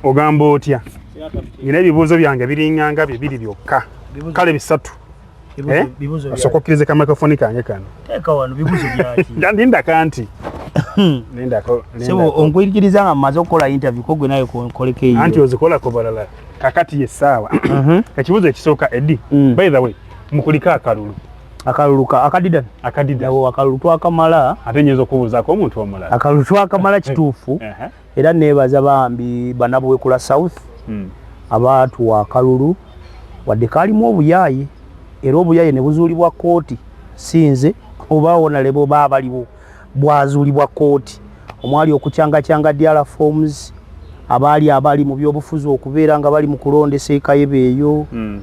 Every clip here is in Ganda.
ogamba otya nina ebibuuzo byange biringanga bibiri byokka kale bisatu eh? osooka okkiriza ka microfoni kange kano ndindaka nti onkwikiriza nga mumaze okukola interview kogwe naye koleko eyo anti ozikolako balala kakati ye saawa mhm. ekibuzo ekisooka edi mm. by the way mukulika akalulu akalulu ka akadida akadida wo akalulu twakamala ate nyezo kubuza ko omuntu omulala akalulu twakamala kituufu era nebaza bambi banabwe kula south hmm. abantu wa kalulu wadde kalimu obuyayi era obuyayi ne buzulibwa koti sinze oba wona lebo baba libo bwazuulibwa kkooti omwali okukyangakyanga DR forms abaali abali mu byobufuzi okubeera nga bali mu kulondesa ekayeba eyo hmm.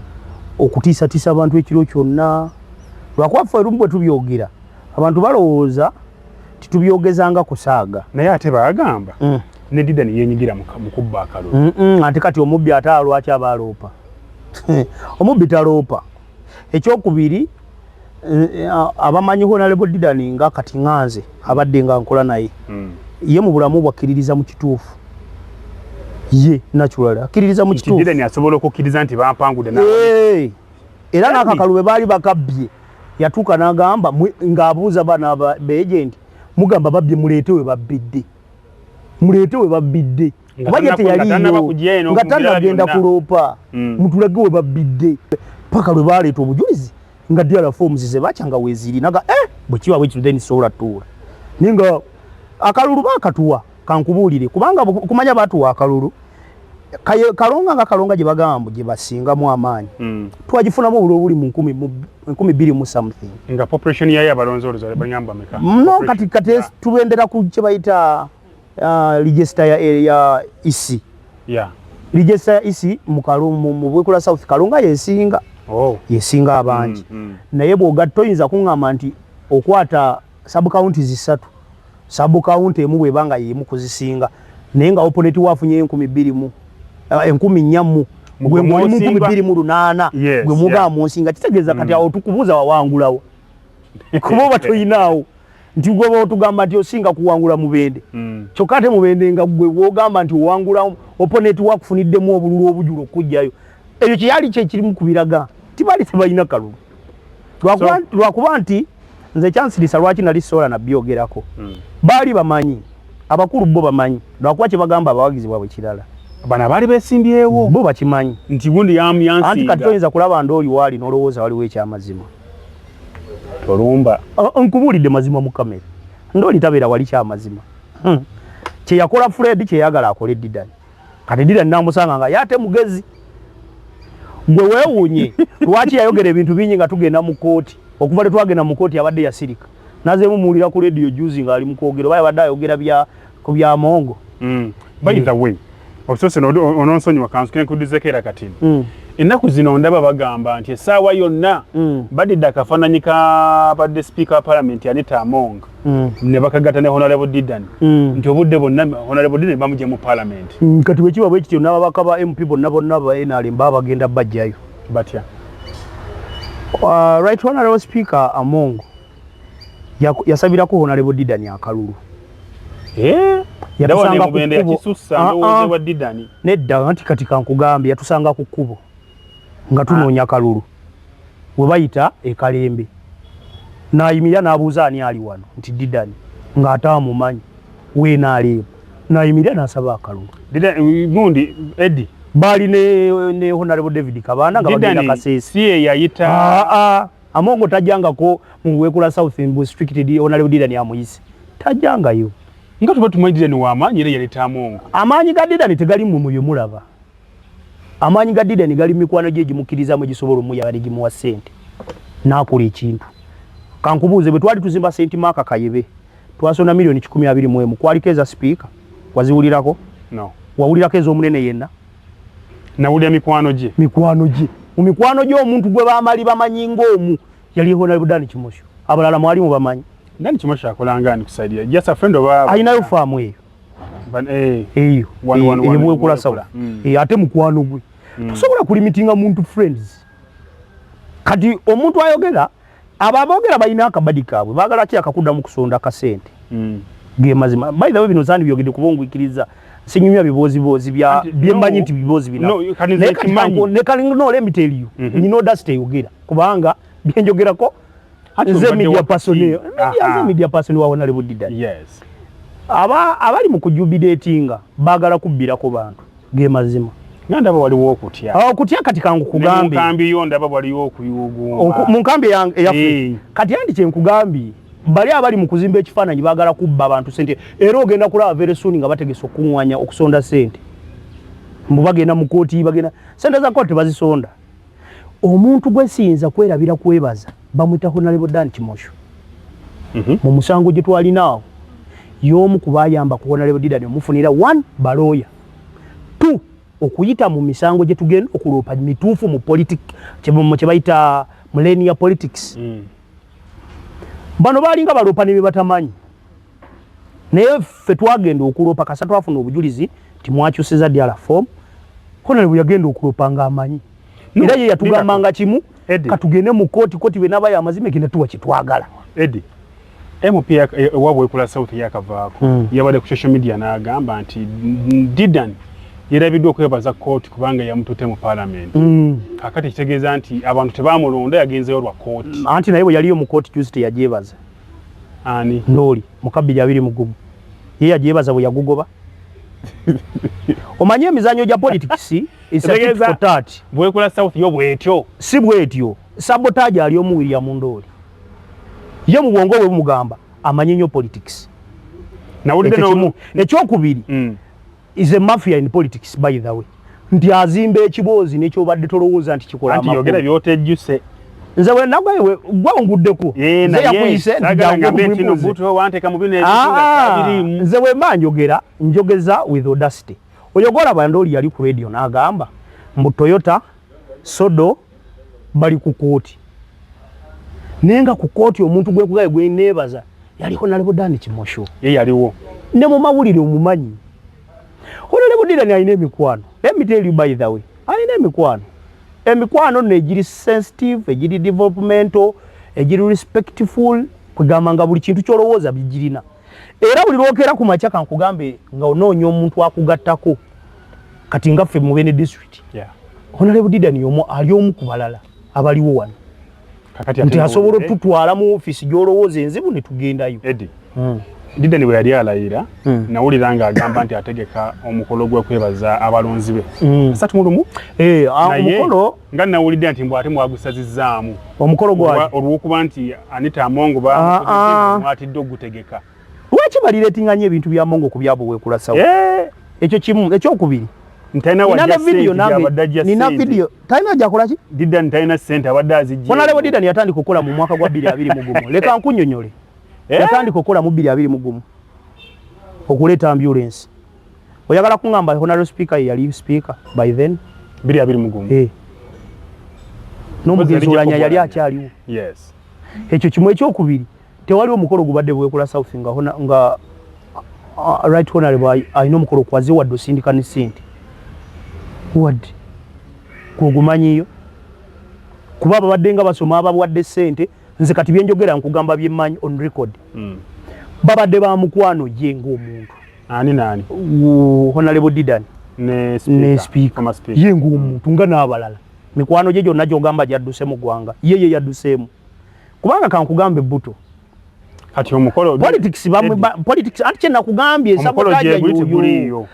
okutiisatiisa abantu ekiro kyonna lwakuba ffe erumu bwe tubyogera abantu balowooza titubyogezanga kusaaga naye ate bagamba mm. ne dida neyenyigira mukubba akalulu mm -mm, ate kati omubbi ate alwaki aba aloopa omubbi taloopa ekyokubiri abamanyi honalebo didani nga kati nganze abadde nga nkola naye hmm. ye mu bulamu bwakkiririza mu kituufu ye natural akkiririza mu kituufu didani asobola okukkiriza nti bampangude era n'akakalu bwe baali bakabbye yatuuka n'agamba ng'abuuza baana beegenti mugamba babbye muleete we babbidde muleete we babbidde bajeti yaliyo nga tanagenda kuloopa hmm. mutulage we babbidde paka lwe baleeta obujulizi nga dr forms zebakya nga weziri naga eh, bwekiba bwekiro then sobola tuula naye nga akalulu bakatuwa kankubuulire kubanga kumanya batuwa akalulu kalonga nga kalonga gye bagamba mbu gye basingamu amaanyi hmm. twagifunamu obuli obuli mu nkumi bbiri mu something nga population yayo abalonzi oluzale banyamba meka no kati kati tubendera ku kye bayita uh, register ya, ya isi e yeah. register ya isi e mukalungu mubwekula south kalunga yesinga oh. yesinga abangi mm, mm. naye bwogatta oyinza kuŋŋamba nti okwata sabukawunti zisatu sabukawunti emu bweba nga yemu kuzisinga naye nga oponeti wafunye enkumi bbiri mu eh, enkumi nnya mu gwe mulimu nkumi bbiri mu lunaana gwe mugamba munsinga kitegeeza kati mm. awo tukubuuza wawangulawo kuba oba toyinaawo nti gwoba otugamba nti osinga kuwangula mubende mm. kyokka ate mubende nga gwe wogamba nti owangula oponeti wakufuniddemu obululu obujula okujjayo ekyo kyeyali kyekirimu ku biraga tibali tebalina kalulu lwakuba nti nze kyansirisa lwaki nali sola nabyogerako mm. baali bamanyi abakulu bo bamanyi lwakuba kyebagamba abawagizi bwabwe kirala bana bali besimbyewo bo bakimanyi nti gundi yamu yansi anti katoyinza kulaba ndoli wali nolowooza waliwo ekyamazima tolumba nkubuulidde mazima mu kamera ndoli tabeera wali kyamazima hmm. kyeyakola fred kyeyagala akole didan kati didan namusanga nga yate mugezi gwe wewunye lwaki yayogera ebintu bingi nga tugenda mu kooti okuva lwe twagenda mu kooti abadde yasirika nazeemu muwulira ku lediyo juzi ng'ali mu kwogera oba yabadde ayogera bya ku bya mongo mm. by the mm. way obusoose ononsonyiwa kansi kenkudizeko era kati mm. ennaku zino ndaba bagamba nti essaawa yonna mm. badidde akafaananyi kabadde sipiika wa palamenti anita among mm. ne bakagata ne honalebo didan mm. nti obudde bonna honalebo didan bamugye mu palamenti mm, kati bwekiba bwe kityo n'ababaka ba mp bonna bonna ba nrm baba bagenda bajjayo batya uh, right honalebo sipiika among yasabirako honalebo didani akalulu eh? yatusanga nedda ah, ah. nti kati kankugambye yatusanga ku kkubo nga ah. tunoonya kalulu we bayita ekalembe nayimirira n'abuuza ani ali wano nti didani ng'ate amumanyi weenaaleebo nayimirira n'asaba akalulu gundi edi baali ne honalebo david kabaana nga bagenda kaseesi si eyayita Amongo tajangako mu wekula South Mbu strict di ona leo dida ni amuyisi. Tajangayo. Nga tuba tumanyi dida ni wa amanyi era yaleta Amongo. Amanyi ga dida ni tegali mu muyo mulaba. Amanyi ga dida ni gali mikwano gye gimukiriza mu gisobolo mu yali gimuwa sente. Nakuli ekintu. Kankubuze bwe twali tuzimba senti maka kayebe. Twasona milioni 121 mu kwali keza speaker. Waziwulirako? No. Wawulirako ezo munene yenna? nawulira mikwano gye mikwano gye mu mikwano gye omuntu gwe bamali bamanyi ng'omu yali honalebo dani kimosho abalala mwali mu bamanyi dani kimosho akolanga ani kusaidia just a friend of our ayinayo faamu eyo eh, eyo eyebwekula eh, sawa mm. eh, ate mukwano gwe mm. tosobola kulimitinga muntu friends kati omuntu ayogera abo abogera balina akabadi kaabwe bagala ki akakudamu kusonda kasente mm. gemazima by the way bino zani byogede kubongwikiriza sinyumya bibozi bozi bya byemanyi nti bibozi bina no, ne kalingo no let me tell you mm -hmm. you know that stay yogera kubanga byenjogera ko nze media person media nze media person wawo nali budida yes aba abali mu kujubidatinga bagala kubbira ko bantu ge mazima nga ndaba waliwo okutya ah, okutya kati kankukugambemukambi yo ndaba waliwo okuyuuguuma mu nkambi eyaffe kati andi kyenkugambye bali abali mu kuzimba ekifaananyi baagala kubba abantu sente era ogenda kulaba veresuuni nga bategese okukuŋŋanya okusonda sente mbu bagenda mu kooti bagenda sente za kooti tebazisonda Omuntu gwesiyinza kwerabira kwebaza bamwita Honalebo Dan Kimosho mm -hmm. mu musango gye twalina awo y'omu ku bayamba ku Honalebo Didani omufunira one balooya two okuyita mu misango gye tugenda okuloopa mituufu mu politik kye bayita mulenia politics mm. bano balinga baloopa ne bye batamanyi naye ffe twagenda okuloopa kasa twafuna obujulizi nti mwakyusiza diala form konale bwe yagenda okuloopa nga amanyi era ye yatugamba nga kimu katugende mu kooti kooti be nabayo amazima egenda tuwa kyetwagala edi mp ewabwe ekula south yakavaako hmm. yabadde ku social media n'agamba nti didan yerabiddwa okwebaza kooti kubanga yamutute mu palamenti hmm. kakati ekitegeeza nti abantu tebamulonda yagenzeyo lwa kooti anti naye bwe yaliyo mu kooti juzi teyagyebaza ani ndooli mukabbiri abiri mugumu ye yajebaza bwe yagugoba omanyi emizanyo gya politics isatati bwekula south yo bwetyo si bwetyo sabotage ali omu william ndooli ye mu bwongo bwe bumugamba amanyi nnyo politics nawulidde ekyokubiri mm. is a mafia in politics by the way nti azimba ekiboozi nekyobadde tolowooza nti kikolayogera byotejjuse nze wenagwaye gwe onguddeko zeyakuyise nze wemba njogera njogeza with audacity oyo golaba ndooli yali ku radio nagamba mbu toyota sodo bali ku kooti naye nga ku kooti omuntu gwekugaye gweneebaza yali honalebo dani kimosho ye yaliwo ne mu mawulire omumanyi honalebo dirani alina emikwano emiteri by the way alina emikwano emikwano nno egiri sensitive egiri developmental egiri respectful kugamba nga buli kintu kyolowooza bigirina era buli lwokeera ku makya kankugambe nga onoonya omuntu akugattako kati nga ffe mu Beene district yeah. Honorable Didan yomu ali omu ku balala abaliwo wano nti asobola otutwala mu ofiisi gy'olowooza enzibu ne tugendayo Eddie. Mm. Dideni bwe yali alayira hmm. nawulira nga agamba nti ategeka omukolo gwekwebaza abalonzi be hmm. satu mulumu eh, omukolo nga nawulidde nti mbwate mwagusazizaamu omukolo olwokuba nti anita amongo bamwatidde ah, ah. okugutegeka lwaki baliretinganya ebintu bya mongo ku byabo wekulasawo eh. ekyo kimu ekyokubiri yatandika okukola mu mwaka gwa biri abiri mugumu leka nkunyonyole eh? yatandika okukola mu biri abiri mugumu okuleeta ambulensi oyagala kuŋamba honaro speaker yeyali speaker by then biri abiri mugumu eh. n'omugenzi olanya yali akyaliwo ekyo kimu ekyokubiri tewaliwo mukolo gubadde bwekula south nga hona nga uh, right honorable alina omukolo kwaze wadde osindika ne sente wadde kwogumanyiyo kuba babadde nga basoma ababwadde sente nze kati byenjogera nkugamba byemmanyi on record mm. babadde ba mukwano ye ngaomuntu ani nani honorable didan ne speaker ye ngaomuntu nga n'abalala mikwano gye gyonna gyogamba gyadduse mu ggwanga ye ye yadduseemu kubanga kankugambe buto kati omukolo politics bamwe politics anti kye nakugambye nsabo kaja guliyo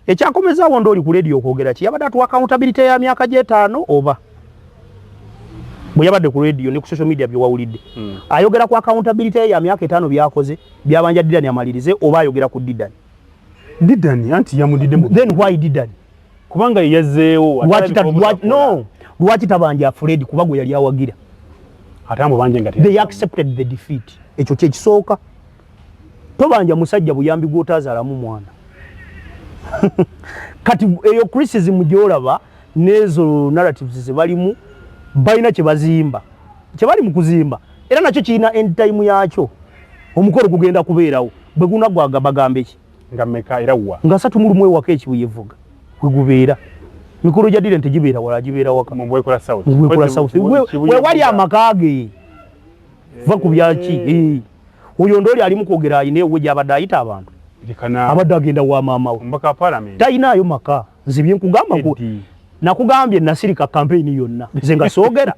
ekyakomeza awo ndoli ku radio okwogera ki yabada tu accountability ya myaka je tano oba bwe yabadde ku radio ne ku social media bye wawulidde hmm. ayogera ku accountability ya myaka etano byakoze byabanja didani amalirize oba ayogera ku didani didani anti yamudidde mu then why didani kubanga yazzeewo lwaki tabanja fred kuba gwe yali awagira ekyo kyekisooka tobanja musajja buyambi gwotazalamu mwana kati eyo criticism gyolaba nezo narratives zebalimu balina kyebazimba kyebali mu kuzimba era nakyo kirina endtime yakyo omukolo gugenda kubeerawo bwegunagwaga bagambeki nga meka era wa nga satu mulumu ewaka ekibuye vuga kwegubeera mikolo gya direnti gibeera wala gibeera waka mubwekola south mubwekola south wewali amaka ge va ku byaki eh. Eh. oyo ndooli alimu kwogera ayina ewe gyabadde ayita abantu abadde agenda wa maama we tayinaayo maka nze byenkugamba nakugambye nasirika kampeyini yonna nze nga soogera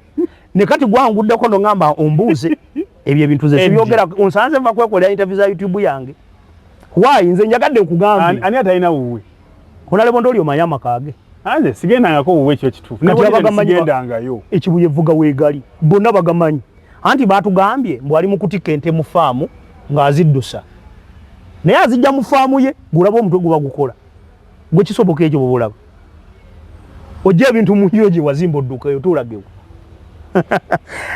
ne kati gwanguddeko no ngamba ombuuze ebyo ebintu ze sibyogera onsanze nva kwekolera interview za youtube yange why nze njagadde nkugambe ani atalina wuwe onalebonda oli omanya amakage anze sigendangako wuwe ekyo kituufu nabagamanyigendangayo ekibuye vuga wegali bonna bagamanyi anti batugambye mbu ali mukutikka ente mu faamu ng'aziddusa naye azijja mu faamu ye gulaba omutwe guba gukola Gwe kisoboka ekyo bubulaba. Ojja ebintu mu njuyo gye wazimba odduka eyo tulagewo.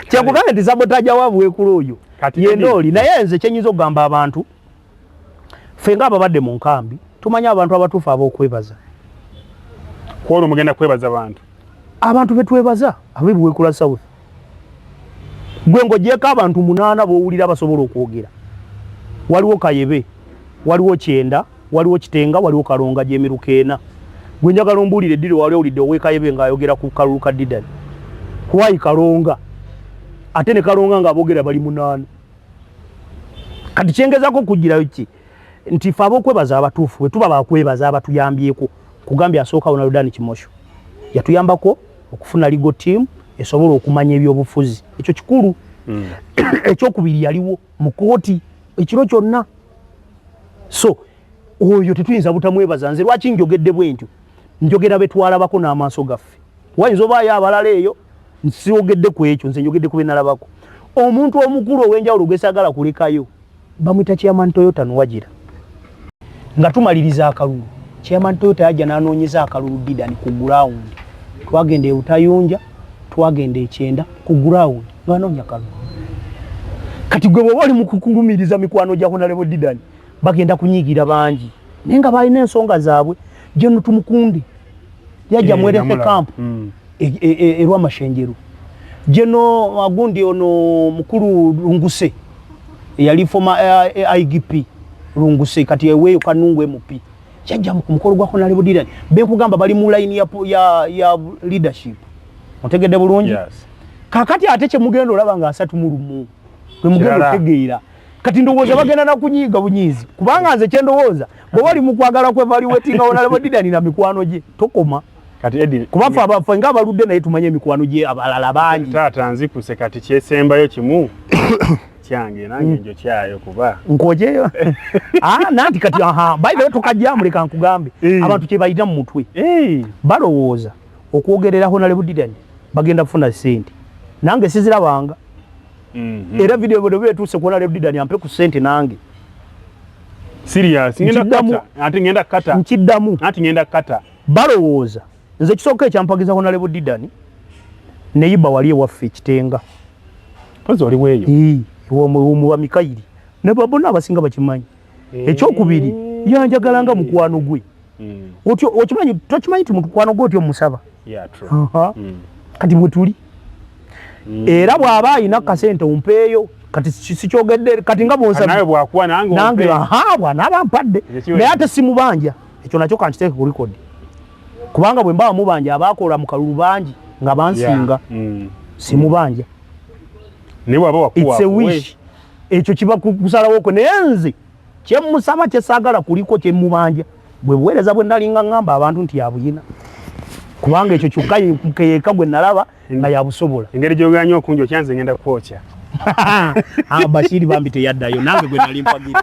Kyakugambye nti sabotaja wa bwekula oyo yenda oli naye nze kyenyinza okugamba abantu ffe nga ababadde mu nkambi tumanya abantu abatuufu ab'okwebaza. Kwolwo mugenda kwebaza bantu. abantu betwebaza abe buwekula south gwe ngojeko abantu munana bowulira basobola okwogera waliwo kayebe waliwo kyenda waliwo kitenga waliwo kalonga gyemiruka ena gwe njagala ombuulire ddiri wali owulidde owekayebe ng'ayogera ku kalulu ka didani kwayi kalonga ate ne kalonga ng'abogera bali munaana kati kyengezako okugirayo ki nti fe abokwebaza abatuufu bwe tuba bakwebaza abatuyambyeko Kugambye asooka Ronaldan Kimosho yatuyambako okufuna legal team esobola okumanya ebyobufuzi ekyo kikulu mm. ekyokubiri yaliwo mu kooti ekiro kyonna so oyo tetuyinza butamwebaza nze lwaki njogedde bwentyo njogera betwalabako n'amaaso gaffe wayinza obaayo abalala eyo nsiogedde ku ekyo nze njogedde ku benalabako omuntu omukulu ow'enjawulo gwesagala kulekayo bamwita chairman Toyota Nwajira nga tumaliriza akalulu chairman Toyota yajja n'anoonyeza akalulu Didan ku ground twagenda e Butayunja twagenda ekyenda ku ground n'anoonya kalulu kati gwe bw'oba oli mu kukulumiriza mikwano gya Honorable Didan bagenda kunyigira bangi naye nga balina ensonga zaabwe Gen Tumukunde yajja eh, mwerese camp hmm. erwa e, e, mashenjeru jeno agundi ono mukulu lunguse yali foma eh, eh, igp lunguse kati eweyo kanungu emupi kyajja ku mukolo gwa Hon. Level Dylan benkugamba bali mu line ya, ya, ya leadership mutegedde bulungi yes. kakati ate kyemugenda olaba nga asatu mu lumu lwemugenda otegeera kati ndowooza bagenda nakunyiiga bunyiizi kubanga nze kyendowooza bwe bali mu kwagala kwevaluwetinga Hon. Level Dylan na mikwano gye tokoma kati edi kuba fa ba fanga baludde naye tumanye mikwano je abalala bangi tata nzipuse kati kyesembayo kimu kyange nange mm. njo kyayo kuba nkoje yo ah nanti kati aha by the way tukajja muleka nkugambe eh. abantu kye bayita mu mutwe eh balowoza okwogerera ho nalebu didani bagenda kufuna sente nange sizira banga mm -hmm. era video video betuse kuona lebu didani ampe ku sente nange serious ngenda kata ati ngenda kata nkidamu ati ngenda kata balowooza nze ekisooka ekyampagiza honalebo didani neyiba wali ewaffe ekitenga omuba mikayiri nebabona abasinga bakimanyi eh. ekyokubiri yanjagala nga mukwano gwe hmm. okimanyi tokimanyi ti mukwano gwe otyo musaba hmm. kati mwetuli hmm. era bwaba ayina kasente ompeeyo kati sikyogedde kati nga bonsabnange bwanabampadde naye ate simubanja ekyo nakyo kankiteeke ku record kubanga bwe mbawa mubanja abaakola mu kalulu bangi nga bansinga mm. simubanja wish ekyo kiba kusalawo kwe naye nze kyemusaba kyesaagala kuliko kyemubanja bwe buweereza bwe nalinga ŋŋamba abantu nti yabuyina kubanga ekyo kyokka mukeyeka gwe nalaba nga yabusobola engeri gyogera nyo okunja okyanze ngenda kwokya ah, bashiri bambi teyaddayo nange gwe nali mpagira